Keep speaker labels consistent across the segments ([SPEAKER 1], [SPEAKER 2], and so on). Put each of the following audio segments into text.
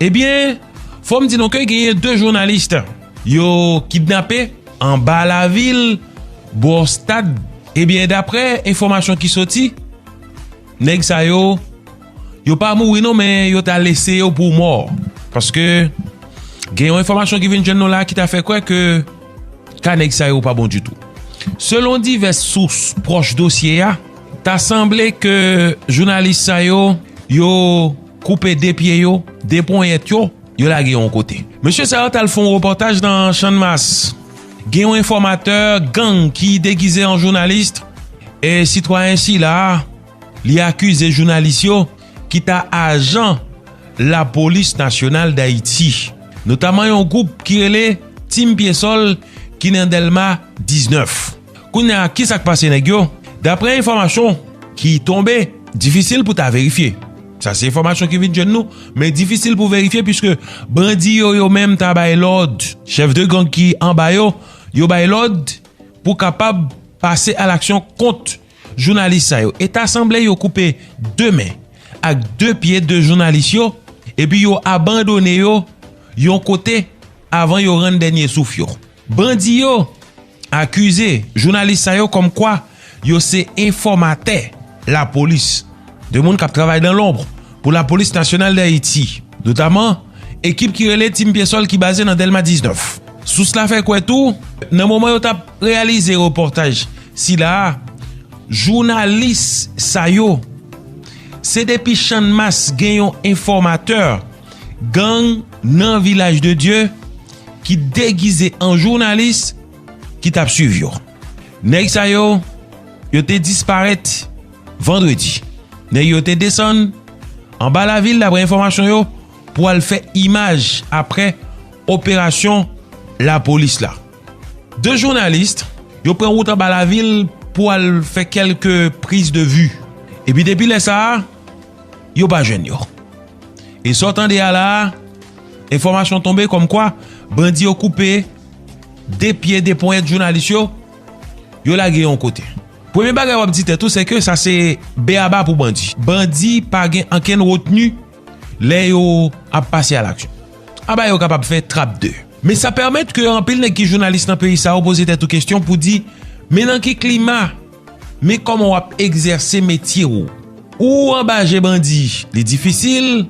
[SPEAKER 1] Ebyen fòm di nou ke genyen 2 journalist yo kidnape anba la vil bò stad ebyen daprè enfòmasyon ki soti nèg sa yo yo pa mouri non men yo ta lese yo pou mò paske gen yon enfòmasyon ki vin jwenn nou la ki ta fè kwè ke ka nèg sa yo pa bon ditou selon divès sous pwòch dosye a ta sanble ke journalist sa yo yo. Koupe 2 pye yo, 2 ponyèt yo, yo lage yon kote. Mesye sa yo t al fè yon repòtaj nan Channmas. Gen yon enfòmatè gang ki degize an jounalis e sitwayen sila a, li akize jounalis yo ki ta ajan lapolis nasyonal Dayiti. Notaman yon gwoup ki rele Team Pyesòl ki nan Dèlma 19. Kounye a kisa k pase nèg yo? Daprè enfòmasyon ki tonbe, difisil pou ta verifye. Sa se enfòmasyon ki vin jwenn nou, men difisil pou verifye puiske bandi yo yo menm ta bay lòd, chèf de gang ki anba yo, yo bay lòd pou kapab pase a laksyon kont jounalis sa yo. E ta sanble yo koupe 2 men ak 2 pye de jounalis yo epi yo abandone yo yon kote avan yo rann dènye souf yo. Bandi yo akize jounalis sa yo kòm kwa yo se enfòmatè lapolis, 2 moun k ap travay dan lonbr pou lapolis nasyonal Dayiti, notaman ekip ki rele Team Pyesòl ki baze nan Dèlma 19. Sous la fè kwè tou, nan moman yo t ap reyalize repòtaj sila a, jounalis sa yo se depi Channmas gen yon enfòmatè gang nan Vilaj de Dye, ki degize an jounalis ki tap swiv yo. Nèg sa yo, yo te disparèt vandredi. Nèg yo te desann anba lavil daprè enfòmasyon yo pou al fè imaj aprè operasyon lapolis la. De jounalis yo pran wout anba lavil pou al fè kèlke priz de vi. Epi depi lè sa a. yo pa jwenn yo. E sa w tande a la a, enfòmasyon tonbe kòm kwa bandi yo koupe 2 pye 2 ponyèt jounalis yo, yo lage yo yon kote. Premye bagay w ap di tèt ou se ke sa se be a ba pou bandi. Bandi pa gen ankenn retni lè yo ap pase a laksyon. Aba yo kapab fè trap de. Men sa pèmèt ke anpil nèg ki jounalis nan peyi sa yo poze tèt ou kesyon pou di men nan ki klima? Men kòman wap egzèse metye ou? Ou anba je bandi, li difisil?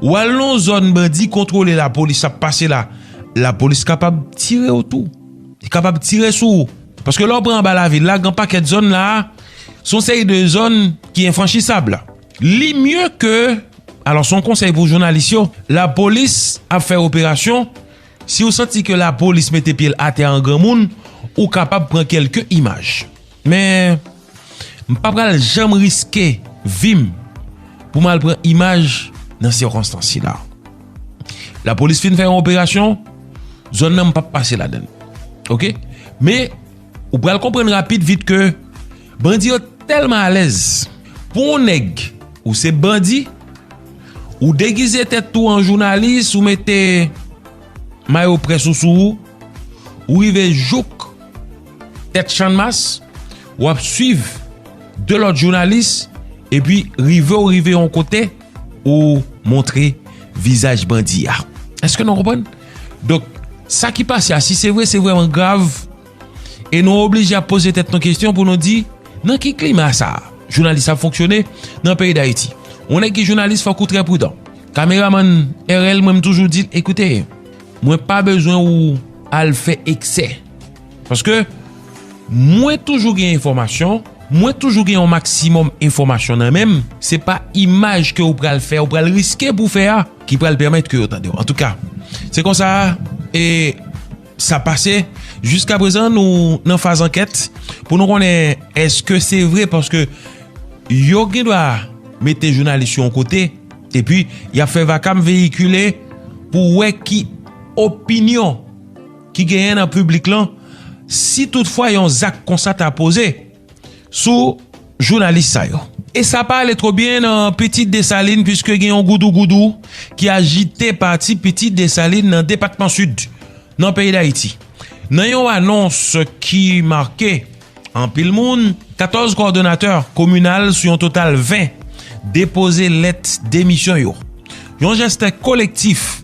[SPEAKER 1] Ou al nan yon zòn bandi kontwole lapolis ap pase la, lapolis kapab tire ou tou. Li kapab tire sou ou. Paske lè ou pran anba lavil la, gen yon pakèt zòn la a, se yon seri de zòn ki enfranchisab. Li mye ke, alò se yon konsèy pou jounalis yo, lapolis ap fè operasyon, Si w santi ke lapolis mete pye l atè an granmoun, ou kapab pran kelke imaj. Men, m pa pral janm riske vi m pou m al pran imaj nan sikonstans sila. Lapolis fin fè yon operasyon, zòn nan m pap pase ladan l. Ok. Men. Ou pral konprann rapid vit ke bandi yo tèlman alèz pou on nèg ou se bandi, ou degize tèt ou an jounalis, ou mete mayo près ou sou ou, ou rive jouk tèt channmas, wap swiv 2 lòt jounalis, epi rive ou rive on kote. ou montre vizaj bandi a. Eske nou konprann? Donk, sa ki pase a, si se vre, se vreman grav. E nou oblije ap pose tèt nou kestyon pou nou di, nan ki klima sa, jounalis ap fonksyone nan peyi Dayiti? Ou nèk ki jounalis fòk ou trè prudan. Kameramann RL mwen m toujou di l, ekoute, mwen pa bezwen ou al fè eksè. Paske mwen toujou gen enfòmasyon, mwen toujou gen yon maksimòm enfòmasyon nan menm, se pa imaj ke ou pral fè, ou pral riske pou fè a, ki pral pèmèt ke yo tandew. Antouka, se konsa e sa pase, jiska prezan nou nan faz ankèt, pou nou konnen eske se vre, paske yo gen dwa mete jounalis yon kote, e pi ya fè vakam veyikile, pou wè ki opinyon. ki genyen nan piblik lan si tout fwa yon zak konsa ta poze sou jounalis sa yo. E sa pa ale two byen nan Pitit Desalin pwiske gen yon goudou goudou ki ajite pati Pitit Desalin nan depatman Sid nan peyi Dayiti. Nan yon anons ki make anpil moun, 14 kòdonatè kominal sou yon total 20 depoze lèt demisyon yo. Yon jeste kolektif.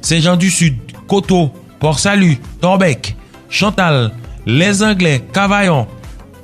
[SPEAKER 1] Sen Jan di Sid, Koto, Port Salut, Torbeck, Chantal, Les Anglais, Cavaillon,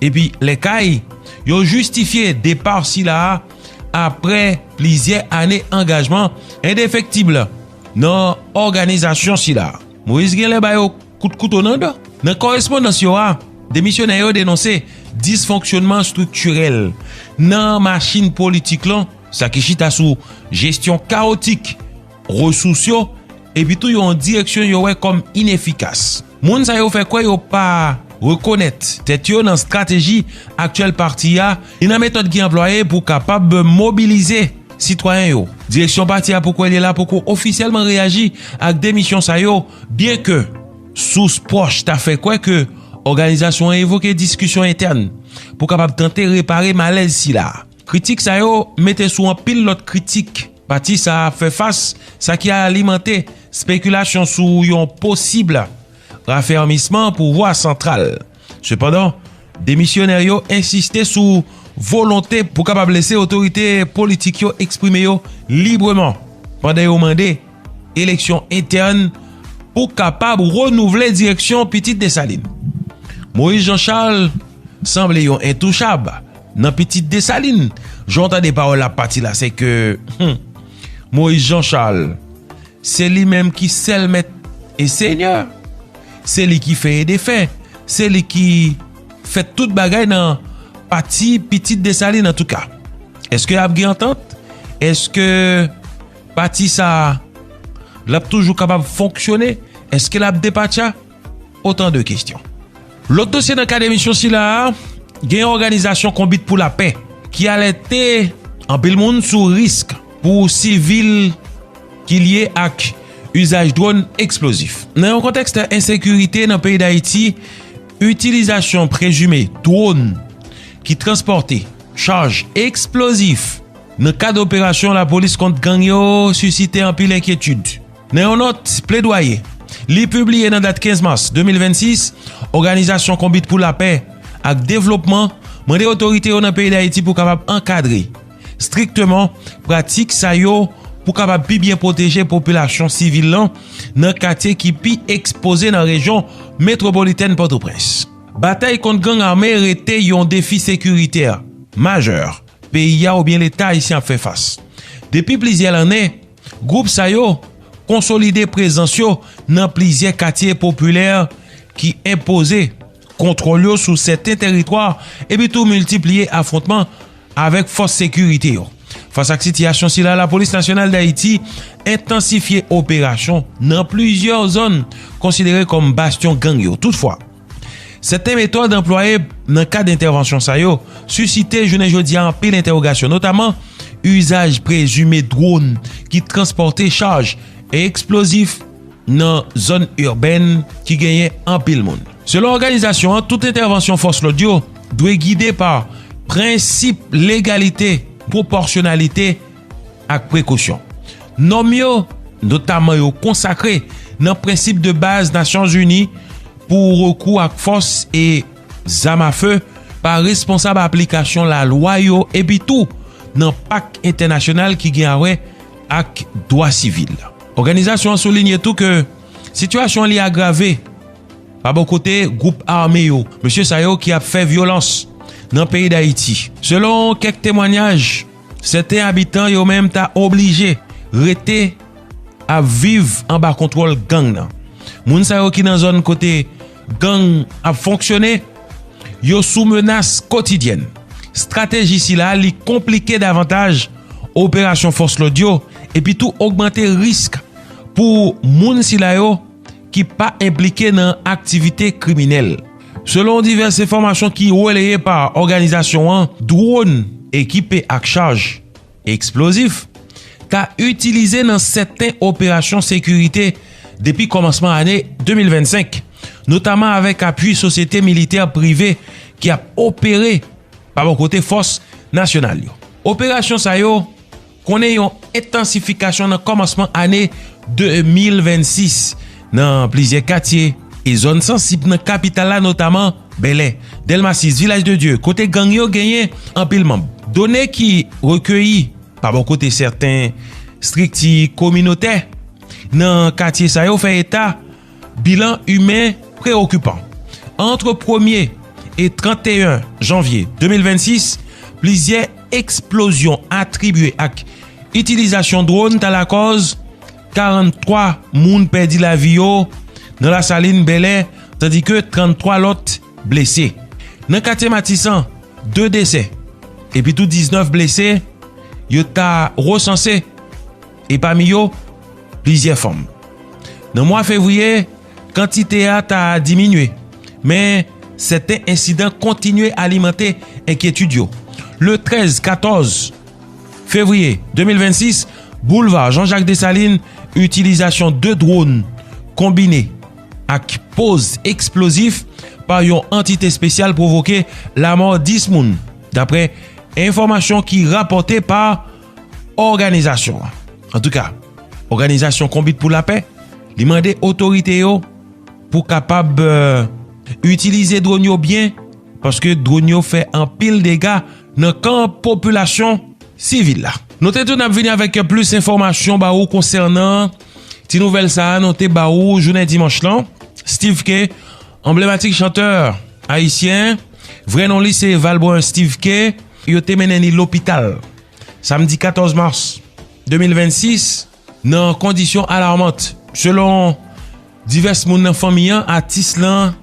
[SPEAKER 1] epi Les Cayes, yo jistifye depa sila a apre plizyè ane angajman endefektib nan òganizasyon sila a. Moïse genlè ba yo kout kouto nan dan. Nan korespondans yo a, demisyonè yo denonse disfonksyonman estriktirèl nan machin politik lan, sa ki chita sou jesyon kawotik resous yo, epi tou yon direksyon yo wè kòm inefikas. Moun sa yo fè kwè yo pa rekonèt tèt yo nan strateji aktyèl pati a ni nan metòd ki anplwaye pou kapab mobilize sitwayen yo. Direksyon pati a pou kwè li la poko ofisyèlman reyaji ak demisyon sa yo, byen ke sous pwòch ta fè kwè ke òganizasyon an evoke diskisyon entèn pou kapab tante repare malèz sila. Kritik sa yo mete sou anpil lòt kritik pati sa ap fè fas, sa ki alimante spekilasyon sou yon posib rafèmisman pouvwa santral. Sepandan, demisyonè yo ensiste sou volonte pou kapab lese otorite politik yo eksprime yo libreman pandan yo mande, eleksyon entèn pou kapab renouvle direksyon Pitit Desalin. Moïse Jean Charles sanble yon entouchab nan Pitit Desalin. Jan w tande pawòl la pati la se ke Moïse Jean Charles se li menm ki sèl mèt e senyè. Se li ki fè e defè. Se li ki fè tout bagay nan pati Pitit Desalin. Antouka, eske ap gen antant? Eske... Pati sa a, l ap toujou kapab fonksyone? Eske l ap depatcha? Otan de kestyon. Lòt dosye nan kad emisyon sila a, gen yon òganizasyon konbit pou lapè ki alète anpil moun sou risk pou sivil ki lye ak uzaj dron eksplozif. Nan yon kontèks de ensekirite nan peyi Dayiti, itilizasyon prezime dron ki transpòte chaj eksplozif, nan kad operasyon lapolis kont gang yo sisite anpil enkyetid. Nan yon nòt pledwaye li pibliye nan dat 15 mas 2026, Òganizasyon Konbit pou Lapè ak Devlopman mande otorite yo nan peyi Dayiti pou kapab ankadre strikteman pratik sa yo pou kapab pi byen pwoteje popilasyon sivil lan nan katye ki pi ekspoze nan rejyon metwopolitèn Pòtoprens. Batay kont gang ame rete yon defi sekiritè majè. peyi a oubyen leta ayisyen ap fè fas. Depi plizyè lannen, gwoup sa yo konsolide prezans yo nan plizyè katye popilè ki enpoze kontwòl yo sou sèten teritwa epi tou miltipliye afwontman avèk fòs sekirite yo. Fas ak sitiyasyon sila Lapolis Nasyonal Dayiti entansifye operasyon nan plizyè zòn konsidere kòm bastyon gang yo. Toutfwa. Sèten metòd anplwaye nan kad entèvansyon sa yo sisite jounen jodi a anpil entèwogasyon, notaman uzaj prezime dronn ki transpòte chaj eksplozif nan zòn irbèn ki genyen anpil moun. Selon òganizasyon an, tout entèvansyon fòs lòd yo dwe gide pa prensip legalite, pwopòsyonalite, ak prekosyon. Nòm yo, notaman yo konsakre nan prensip de baz Nasyonzini pou rekou ak fòs e zam a fe pa responsab aplikasyon lalwa yo epi tou nan pak entènasyonal ki gen awè ak dwa sivil. Òganizasyon an soulinye tou ke sitiyasyon li agrave pa bò kote gwoup ame yo, mesye sa yo ki ap fè vyolans nan peyi Dayiti. Selon kèk temwanyaj. Sèten abitan yo menm ta oblije rete ap viv anba kontwòl gang nan. Moun sa yo ki nan zòn kote gang ap fonksyone, yo sou menas kotidyèn. Estrateji sila li konplike davantaj operasyon fòs lòd yo epitou ogmante risk pou moun sila yo. ki pa enplike nan aktivite kriminèl. Selon divès enfòmasyon ki releye pa òganizasyon an, dwòn ekipe ak chaj eksplozif ta itilize nan sèten operasyon sekirite depi kòmansman ane 2025, notaman avèk apui sosyete militè prive ki ap opere pa bò kote fòs nasyonal yo. Operasyon sa yo. Konnen yon entansifikasyon nan kòmansman ane 2026 nan plizyè katye e zòn sansib nan kapital la notaman Bèlè, Dèlma 6, Vilaj de Dye kote gang yo genyen anpil manb. Done ki rekeyi pa bò kote sèten strikti kominotè nan katye sa yo fè eta Bilan imen preokipan. Antre premye e 31 janvye 2026, plizyè eksplozyon atribye ak itilizasyon dwòn ta lakòz 43 moun pèdi lavi yo nan Lasalin, Bèlè, tandike 33 lòt blese. Nan katye Matisan, 2 desè epitou 19 blese yo ta resanse. e pami yo plizyè fanm. Nan mwa fevriye, kantite a ta diminye, men sèten ensidan kontinye alimante enkyetid yo. Le 13, 14 fevriye 2026, boulva Jean Jacques Dessalines, itilizasyon 2 dwòn konbine ak poz eksplozif pa yon antite espesyal pwovoke lamò 10 moun, dapre enfòmasyon ki rapòte pa. Òganizasyon an, an tou ka, Òganizasyon Konbit pou Lapè, li mande otorite yo pou kapab itilize dron yo byen, paske dron yo fè anpil dega nan kan popilasyon sivil la. Nou te tou nap vini avèk plis enfòmasyon ba ou konsènan ti nouvèl sa a nou te ba ou jounen dimanch lan. Steeve K, anblematik chantè ayisyen, vrè non li se Valbrun Steeve K. Yo te mennen li lopital samdi 14 mas 2026 nan kondisyon alarmant. Selon divès moun nan fanmi an, atis lan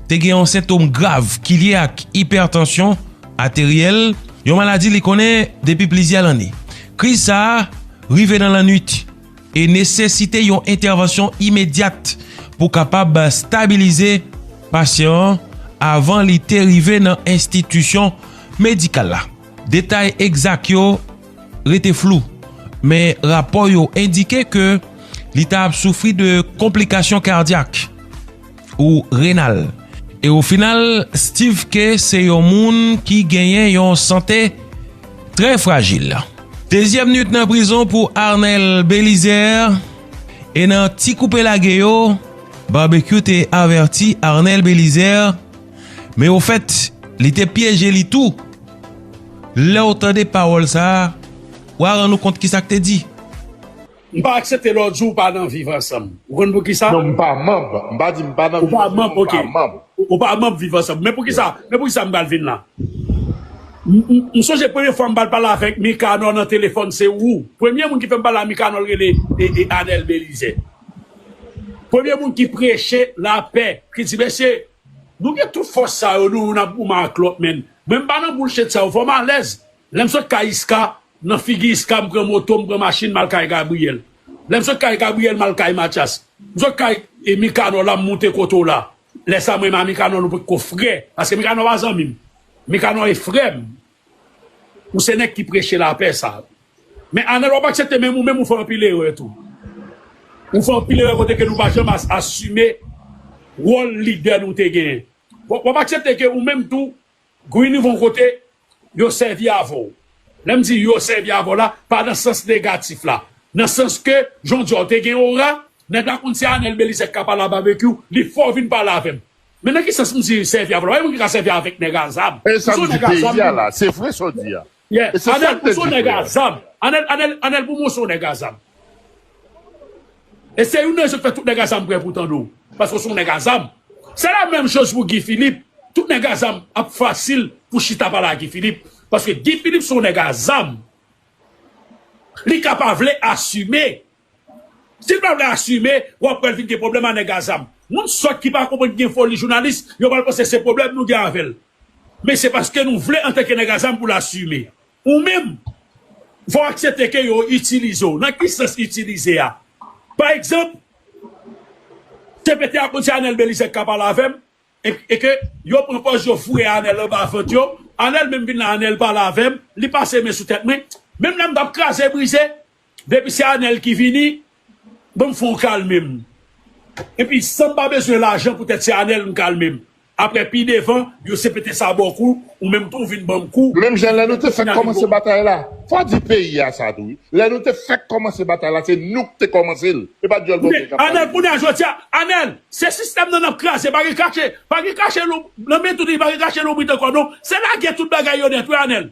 [SPEAKER 1] te gen yon sentom grav ki lye ak ipètansyon ateryèl, yon maladi li konnen depi plizyè lane. Kriz sa a rive nan lannwit. e nesesite yon entèvansyon imedyat pou kapab stabilize pasyan an avan li te rive nan enstitisyon medikal la. Detay egzak yo rete flou, men rapò yo endike ke li ta ap soufri de konplikasyon kadyak. ou renal. E o final Steeve Khe se yon moun ki genyen yon sante trè frajil. Dezyèm nwit nan prizon pou Arnel Belizaire e nan ti koupe lage yo Barbecue te avèti Arnel Belizaire men o fèt li te pyeje li tou. Lèw tande pawòl sa wa rann ou kont kisak te di. M
[SPEAKER 2] pa aksepte lè w di w pa nan viv ansanm. Ou konn poukisa? Non, m pa manb. M
[SPEAKER 3] pa di m pa nan viv ansanm non, m pa manb. Ou
[SPEAKER 2] pa manb viv ansanm. Men poukisa, men poukisa m pral vin la? M sonje premye fwa m pral pale avèk Mikanò nan telefòn se ou. Premye moun ki fè m pale a Mikanò l rele Anèl Belize. Premye moun ki preche lapè, ki di mesye, nou gen tout fòs sa yo nou youn ap goumen ak lòt men mwen m pa nan boulchet sa yo fè m alèz. Lè m sot kay Iska, Nan figi iska m pran moto m pran machin m al kay Gabriel lè m sot kay Gabriel m al kay Matyas m sot kay Mikanò la m moute kote w la lè sa mwen menm a Mikanò nou potko frè paske Mikanò pa zanmi m Mikanò e frè m ou se nèg ki preche lapè sa men Anèl w ap aksepte men ou menm ou fè anpil erè tou ou fè anpil erè kote ke nou pa janm asime wòl lidè nou te genyen w ap aksepte ke ou menm tou Guy ni von kote yo sèvi avè w. Lè m di yo sèvi avè w la, pa nan sans negatif la. Nan sans ke jan w di a w te gen ora, nèg la konn se Anel Belizè k ka pale a Babekyou, li fè w vin pale avè m. Men nan ki sans m di sèvi avè w la? Pa gen moun ki ka sèvi avèk nèg a zam. Men sa m di peyi
[SPEAKER 3] a la, se vre sa w di a. Yeah anel
[SPEAKER 2] pou son nèg a zam anel anel anel pou mwen son nèg a zam e se youn nan rezon ki fè tout nèg a zam prè pou tande w paske w son nèg a zam se la menm choz pou Guy Philippe tout nèg a zam ap fasil pou chita pale a Guy Philippe paske Guy Philippe son nèg a zam li ka pa vle asime Sil pa vle asime wap wèl vin gen pwoblèm a nèg a zam. Moun sòt ki pa konprann ki gen foli jounalis yo pral panse se pwoblèm nou gen avèl. Men se paske nou vle antanke nèg a zam poul asime. Ou menm fòw aksepte ke yo itilize w. Nan ki sans itilize a? Pa egzanp CPT a konn se Anel Belizaire ki ka pale avèm e ke yo pran pòz yo foure Anel anba vant yo. Anel menm vin la Anel pale avèm, li pase men sou tèt mwen. Menm lèm tap kraze brize. Depi se anel ki vini banm fon kalmem epi sanm pa bezwen lajan pou tèt se anel m kalmem aprè pi devan yo se pete sabò kou ou menm tou vin banm kou Menm jan lè nou te fèk
[SPEAKER 3] kòmanse batay la, fò di peyi a sa tou wi, lè nou te fèk kòmanse batay la se nou k te kòmanse l e pa dyòl bòkyè k ap pale de li.
[SPEAKER 2] Anel se sistèm nan nap kraze pa gen kache pa gen kache nan men tout li pa gen kache lonbrit ankò non se lage tout bagay yo nèt wi anel.